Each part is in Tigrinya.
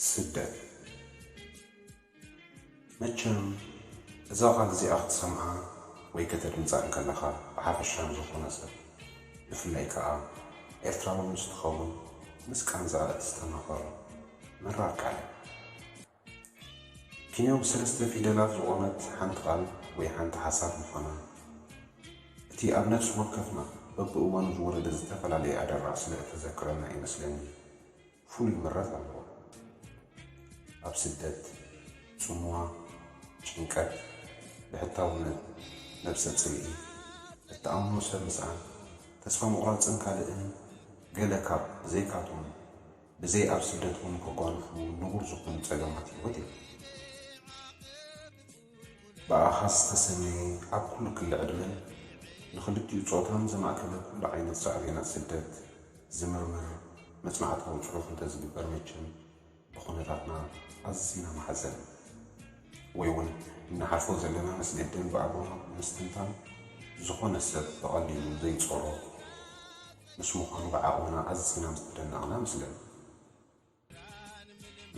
ስደት መቸም እዛ ቃል እዚኣ ክትሰምዓ ወይ ከተድምጻ እንከለኻ ብሓፈሻ ንዝኾነ ሰብ ብፍላይ ከኣ ኤርትራዊ ምስ ትኸውን ምስ ቃንዛኣ እትስተማቐር መራር ቃል እያ። ኪንዮ ብሰለስተ ፊደላት ዝቖመት ሓንቲ ቃል ወይ ሓንቲ ሓሳብ ምዃና፣ እቲ ኣብ ነፍሲ ወከፍና በብእዋኑ ዝወረደ ዝተፈላለየ ኣደራዕ ስለ እተዘክረና እዩ መስለኒ፣ ፍሉይ ምረት ኣለዋ። ኣብ ስደት፣ ጽምዋ፣ ጭንቀት፣ ብሕታውነት፣ ነብሰ ጽልኢ፣ እትኣምኖ ሰብ ምስኣን፣ ተስፋ ምቑራጽን ካልእን ገለ ካብ ዘይካቶም፣ ብዘይ ኣብ ስደት ውን ከጓንፉ ንቡር ዝኮኑ ጸገማት ሂወት እዮም። ብኣኻ ዝተሰነየ ኣብ ኩሉ ክሊ ዕድመን ንክልቲኡ ጾታን ዘማእከለ ኩሉ ዓይነት ሳዕቤናት ስደት ዝምርምር መጽናዕታዊ ጽሑፍ እንተዝግበር መቸም ብኩነታትና ኣዚና ማሕዘን ወይ ውን እንሓልፎ ዘለና መስገደል ብኣግባቡ ብምስትንታን ዝኮነ ሰብ ብቀሊሉ ዘይጾሮ ምስ ምዃኑ ብዓቕምና ኣዚና ምስ ተደነቕና እመስለኒ።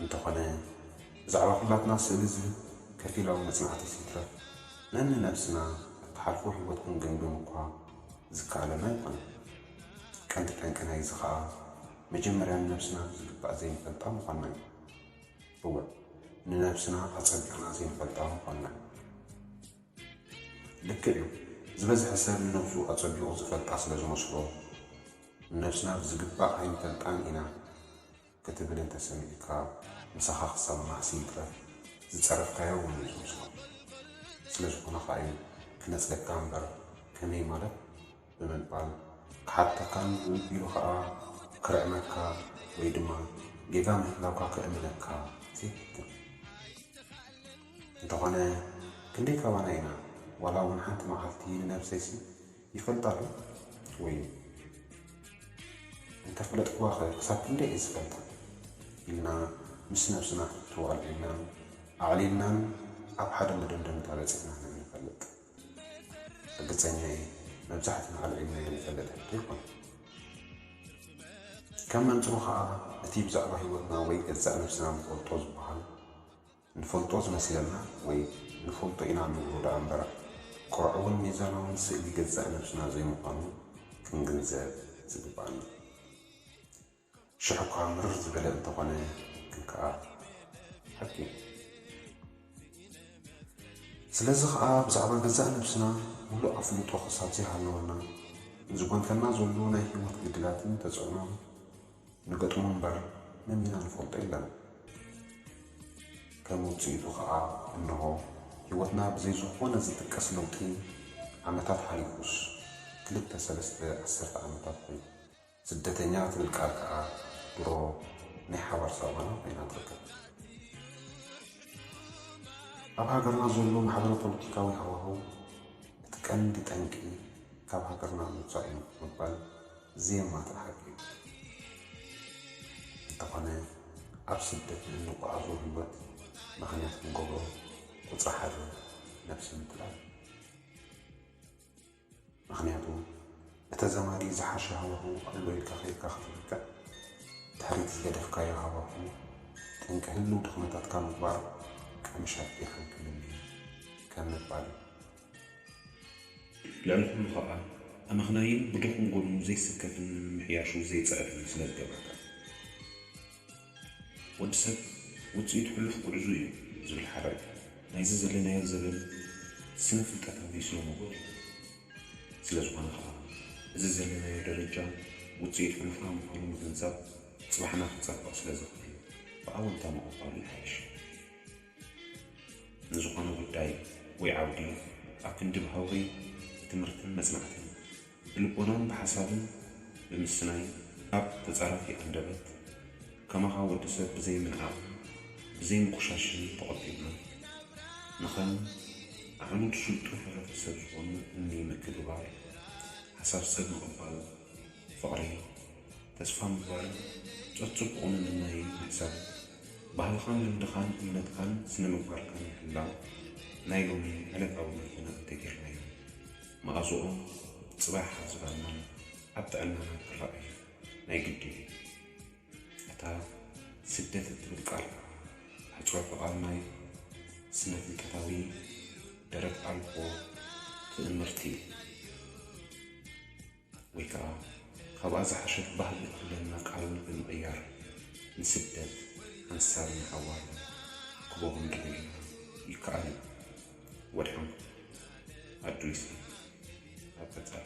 እንተኾነ ብዛዕባ ኩላትና ስእሊ ዝህብ ከፊላዊ መጽናዕቲስ ይትረፍ ነንነብስና እትሓልፎ ህይወት ክንግምግም እኳ ዝከኣለና ኣይኮነን። ቀንዲ ጠንቂ ናይዚ ከኣ መጀመርያ ንነብስና ብዝግባእ ዘይንፈልጣ ምዃንና እዩ። እወ ንነብስና ኣጸቢቕና ዘይንፈልጣ ምዃንና እዩ። ልክዕ እዩ ዝበዝሐ ሰብ ንነብሱ ኣጸቢቑ ዝፈልጣ ስለ ዝመስሎ ንነብስና ብዝግባእ ኣይንፈልጣን ኢና ክትብል እንተ ሰሚዕካ ምሳኻ ክሰማማዕሲ ይትረፍ ዝጸረፍካዮ እውን እዩ ዝመስሎ ስለ ዝኾነ ኸኣ እዩ ክነጽገካ እምበር ከመይ ማለት ብምባል ክሓተካን ንቢሉ ኸኣ ክርዕመካ ወይ ድማ ጌጋ ምህላውካ ክእምነካ ዘይፍትን። እንተኾነ ክንደይ ካባና ኢና ዋላ እውን ሓንቲ መዓልቲ ንነብሰይሲ ይፈልጣዶ ወይ እንተፈለጥክዋኸ ክሳብ ክንደይ እየ ዝፈልጣ ኢልና ምስ ነብስና ሕቶ ኣልዒልናን ኣዕሊልናን ኣብ ሓደ መደምደምታ በፂሕና ንንፈልጥ? ርግፀኛ እየ መብዛሕትና ኣልዒልናዮ ንፈልጥ ሕቶ ኣይኮነን። ከም መንፅሩ ከዓ እቲ ብዛዕባ ህይወትና ወይ ገዛእ ነብስና ንፈልጦ ዝበሃል፣ ንፈልጦ ዝመስለና ወይ ንፈልጦ ኢና ንብሎ ደኣ እምበር ቅርዑውን ሚዛናውን ስእሊ ገዛእ ነብስና ዘይምዃኑ ክንግንዘብ ዝግበኣና ሽሕ'ኳ ምርር ዝበለ እንተኾነ ግን ከኣ ሓቂ እዩ። ስለዚ ከኣ ብዛዕባ ገዛእ ነብስና ምሉእ ኣፍልጦ ክሳብ ዘይሃለወና ንዝጎንተና ዘሎ ናይ ሂወት ግድላትን ተጽዕኖን ንገጥሞ እምበር መሚና ንፈልጦ የለን ከም ውጽኢቱ ከኣ እንሆ ሂወትና ብዘይ ዝኾነ ዝጥቀስ ለውጢ ዓመታት ሓሊፉስ ክልተ ሰለስተ ዓሰርተ ዓመታት ኮይኑ። ስደተኛ ትብል ቃል ከኣ ድሮ ናይ ሓባር ሳባና ኮይና ትርከብ። ኣብ ሃገርና ዘሎ ማሕበረ ፖለቲካዊ ሃዋህው እቲ ቀንዲ ጠንቂ ካብ ሃገርና ምውጻእ እዩ ምባል ዜማ ተኣርዩ እንተኾነ ኣብ ስደት ንእንጎዓዞ ሂወት ምኽንያት ክንገብሮ ቁጽሪ ሓደ ነብሲ ምትላል እዩ ምኽንያቱ ንተዘማዲ ዝሓሸ ሃዋህው ኣሎ ኢልካ ከይድካ ክትምርቅዕ ድሕሪቲ ዝገደፍካዮ ሃዋህው ጠንቂ ህልው ድኽመታትካ ምግባር ቀምሻ ቢርሓን ክምኒ እዩ ከም ምባል እዩ። ልዕሊ ኹሉ ኸኣ ኣመኽናይን ብድኹም ጎኑ ዘይስከፍን ንምምሕያሹ ዘይጸዕርን ስለ ዝገብረካ። ወዲ ሰብ ውጽኢት ሕሉፍ ጉዕዙ እዩ ዝብል ሓበሬታ ናይዚ ዘለናዮ ዘበን ስነ ፍልጠታዊ ስነ ሞጎት እዩ። ስለ ዝኾነ ኸኣ እዚ ዘለናዮ ደረጃ ውጽኢት ሕሉፍና ምዃኑ ምግንዛብ ጽባሕና ክጸብቕ ስለ ዝኽእል ብኣወንታ ምቕባሉ ይሓይሽ። ንዝኾነ ጉዳይ ወይ ዓውዲ ኣብ ክንዲ ብሃውሪ ብትምህርትን መጽናዕትን፣ ብልቦናን ብሓሳብን ብምስናይ ኣብ ተጻራፊ ኣንደበት ከማኻ ወዲ ሰብ ብዘይ ምንዓቕን ብዘይ ምቁሻሽን ተቖጢብና ንኸም ኣዕኑድ ስልጡን ሕብረተሰብ ዝኾኑ እምኒ ምክብባር፣ ሓሳብ ሰብ ምቕባል፣ ፍቕሪ፣ ተስፋ ምግባርን ብጾት ጽቡቕ ምምናይን ምሕሳብ፣ ባህልኻን ልምድኻን እምነትካን ስነ ምግባርካን ምሕላው ናይ ሎሚ ዕለታዊ መርሕና እንተጌርናዮም መኣዝኦም ጽባሕ ኣብ ዝባንናን ኣብ ጥዕናናን ክረኣዩ ናይ ግድን እዩ። እታ ስደት እትብል ቃል ኣሕጽሮተ ቃል ናይ ስነ ፍልጠታዊ ደረት ኣልቦ ትእምርቲ እዩ። ወይ ከኣ ካብኣ ዝሓሸት ባህጊ እትብለና ቃል ብምቕያር ንስደት ሓንሳብ ንሓዋሩ ክቦ ክንገብረላ ይከኣል እዩ። ወድሓንኩም። ኣዱ ይስሓቅ ኣብ ቀጻሊ።